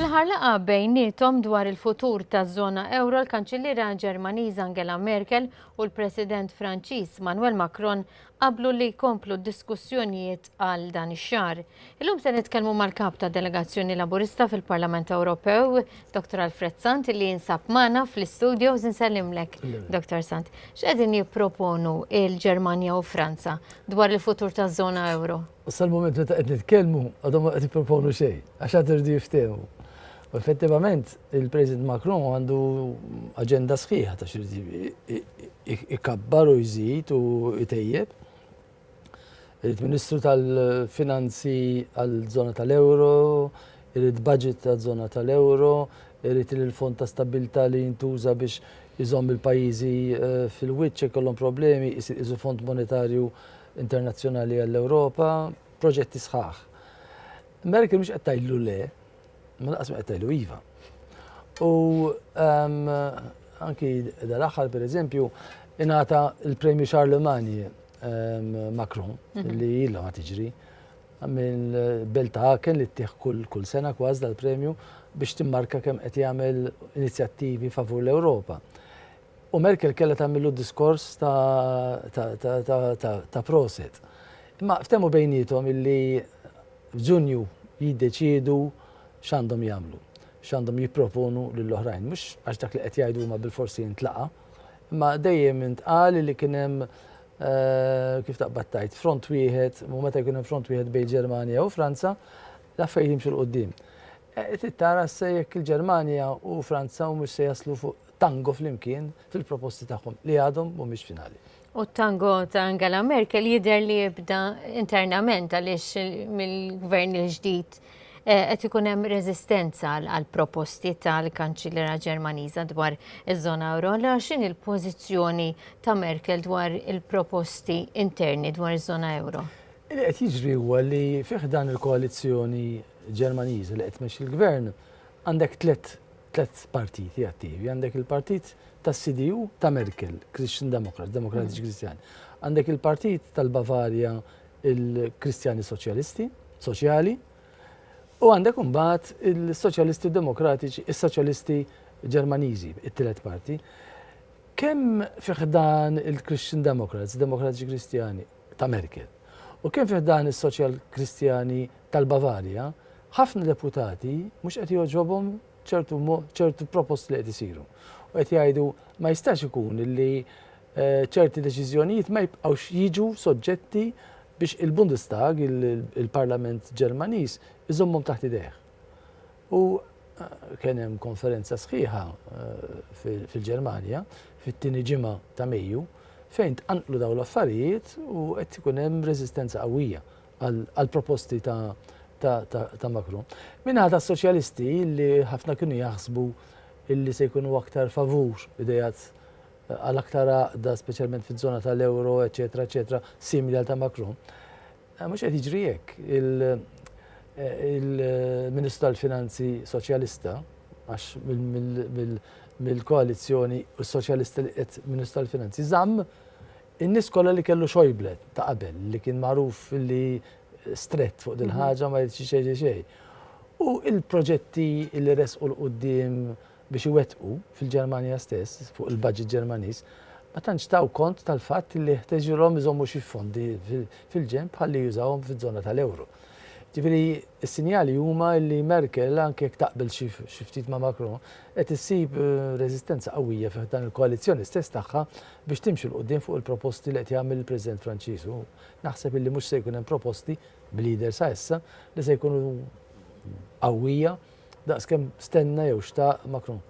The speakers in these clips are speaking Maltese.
Fl-aħħar laqgħa bejniethom dwar il-futur taż-żona ewro l-Kanċilliera Ġermaniża Angela Merkel u l-President Franċiż Manuel Macron qablu li jkomplu d-diskussjonijiet għal dan ix-xahar. Illum se nitkellmu mal-Kap tad-Delegazzjoni Laburista fil-Parlament Ewropew, Dr. Alfred Sant li jinsab magħna fl-istudios. Insellimlek, Dr. Sant. X'qegħdin jipproponu l-Ġermanja u Franza dwar il-futur taż-żona ewro? U sal-mument meta qed nitkellmu għadhom ma qed jipproponu xejn, għax għad iridu jiftehmu. U effettivament il-President Macron għandu aġenda sħiħa ta' xi ikabbar u jżid u jtejjeb. Il-Ministru tal-Finanzi għal-żona tal-Euro, irid budget għal-żona tal-Euro, irid il-fond ta' stabilta li jintuża biex jizom il-pajjiżi eh, fil-wiċċ ikollhom problemi, jisir iżu fond monetarju internazzjonali għall-Ewropa, proġetti sħaħ. Merkel mhux qed tgħidlu le, ma laqas ma qed tgħidlu iva. U ehm, anki dal-aħħar pereżempju ingħata l-Premju Charlemagne ehm, Macron mhm. li ilha ma tiġri minn belt Aken li ttieħ kull sena kważi dal-premju biex timmarka kemm qed jagħmel inizjattivi favur l-Ewropa. U Merkel kellha tagħmillu diskors ta' proset. Imma ftehmu bejniethom illi f'Ġunju jiddeċiedu x'għandhom jagħmlu, x'għandhom jipproponu lill-oħrajn. Mhux għax dak li qed jgħidu huma bilfors jintlaqa', imma dejjem intqal illi kien hemm, kif taqbad tgħid, front wieħed, u meta jkun hemm front wieħed bejn Ġermanja u Franza, l-affarijiet jimxu 'l quddiem. Trid tara issa jekk il-Ġermanja u Franza humiex se jaslu fuq tango flimkien fil-proposti tagħhom li għadhom mhumiex finali. U t-tango ta' Angela Merkel jidher li jibda internament għaliex mill-gvern il-ġdid eh, qed ikun hemm reżistenza għal proposti tal-Kanċillera Ġermaniża dwar iż-żona euro. Allora x'in il-pożizzjoni ta' Merkel dwar il-proposti interni dwar iż-żona euro? Li qed jiġri huwa li fih dan il-koalizzjoni Ġermaniża li qed tmexxi l-gvern għandek tliet Tliet partiti attivi, għandek il-partit tas-CDU ta' Merkel, Christian Democrats, Demokratiċi Kristjani. Għandek il-partit tal-Bavarja, il-Kristjani Soċjalisti, Soċjali. U għandek imbagħad il-Soċjalisti Demokratiċi, is-Soċjalisti Ġermaniżi, it-tielet parti. Kemm fiħdan il-Christian Democrats, Demokratiċi Kristjani, ta' Merkel. U kemm fi ħdan is-Soċjal-Kristjani tal-Bavarja, ħafna deputati mhux qed jogħġobhom ċertu ċertu proposti li qed isiru. U qed jgħidu ma jistax ikun li ċerti deċiżjonijiet ma jibqgħux jiġu soġġetti biex il-Bundestag, il-Parlament Ġermaniż, iżommhom taħt idejh. U kien hemm konferenza sħiħa fil-Ġermanja fit-tieni ġimgħa ta' Mejju fejn tqanqlu dawn l-affarijiet u qed ikun hemm reżistenza qawwija għall-proposti ta' Macron. Minnaħa tas-Soċjalisti li ħafna kienu jaħsbu illi se jkunu aktar favur idejat għal aktar għaqda speċjalment fiż-żona tal-euro, eċetera, eċetera, simili għal ta' Macron. Mhux qed jiġri hekk. Il-Ministru tal-Finanzi Soċjalista, għax mill-koalizzjoni u s-Soċjalisti li qiegħed Ministru tal-Finanzi, żamm in-nies kollha li kellu Schäuble ta' qabel, li kien magħruf li strett fuq din il-ħaġa ma jridx jgħid xejn. U l-proġetti li resqu 'l quddiem biex iwettqu fil-Ġermanja stess, fuq il-budget Ġermaniż, ma tantx taw kont tal-fatt li ħteġilhom iżommu xi fondi fil-ġenb ħalli jużawhom fiż-żona tal-euro. Ġifieri s-sinjali huma li Merkel, anke jekk taqbel xi ftit ma' Macron, qed issib reżistenza qawwija fi ħdan il-koalizzjoni stess tagħha biex timxi 'l quddiem fuq il-proposti li qed jagħmel il-President Franċiż u naħseb illi mhux se jkun hemm proposti b'leader sa issa li se jkunu qawwija Daqs kemm stenna jew xtaq Macron.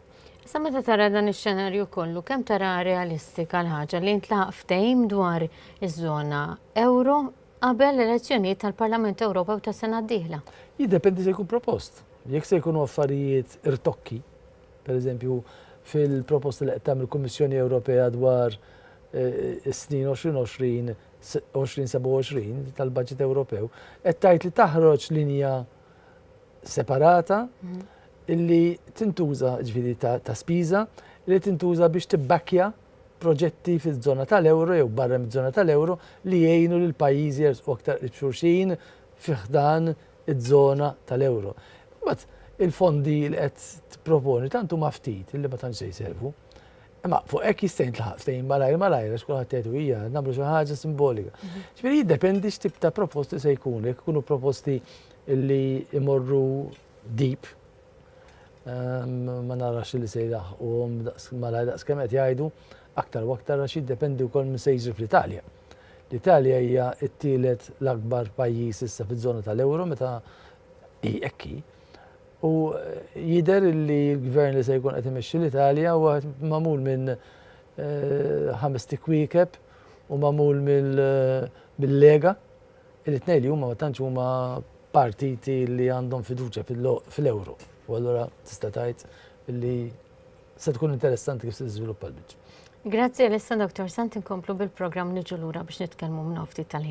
Sa meta tara dan ix-xenarju kollu, kemm tara realistika l-ħaġa li jintlaq ftehim dwar iż-żona euro qabel l-elezzjonijiet tal-Parlament Ewropew tas-sena d-dieħla? Jiddependi se jkun propost. Jekk se jkunu affarijiet irtokki, pereżempju fil-proposta li qed tagħmel il-Kummissjoni Ewropea dwar eh, is-snin 2020 2027 tal-Baġit Ewropew, qed tgħid li taħroġ linja separata illi tintuża ġviri ta' spiża li tintuża biex tibbakkja proġetti fil-zona tal-euro jew barra mid-zona tal-euro li jgħinu lil pajjiżi jersqu aktar qrib xulxin fiħdan iż-żona tal-euro. Mbagħad il-fondi li qed tipproponi tant huma ftit li ma tantx se jservu. Imma fuq hekk jista' jintlaħaq ftehim malajr malajr għax kulħadd jgħidu hija nagħmlu xi ħaġa simbolika. Mhm. Ġifieri jiddependi x'tip ta' proposti se jkunu, jekk ikunu proposti li imorru deep ehm, ma narax li se jdaħħuhom malajr daqs kemm qed jgħidu aktar u aktar għax jiddependi wkoll minn se jiġri fl-Italja. L-Italja hija t-tielet l-akbar pajjiż issa fiż-żona tal-euro meta hi ekki. U jidher li l-Gvern li se jkun qed imexxi l-Italja huwa magħmul minn ħames tikwiekeb u magħmul mill-Lega, il-tnejn li huma ma tantx huma partiti li għandhom fiduċja fl-euro. U allura tista' tgħid li se tkun interessanti kif se tiżviluppa l-biċċa. Grazzi Elissa, Dottor Sant, inkomplu bil-programm niġu lura biex nitkellmu minn hawn ftit tal-ħin.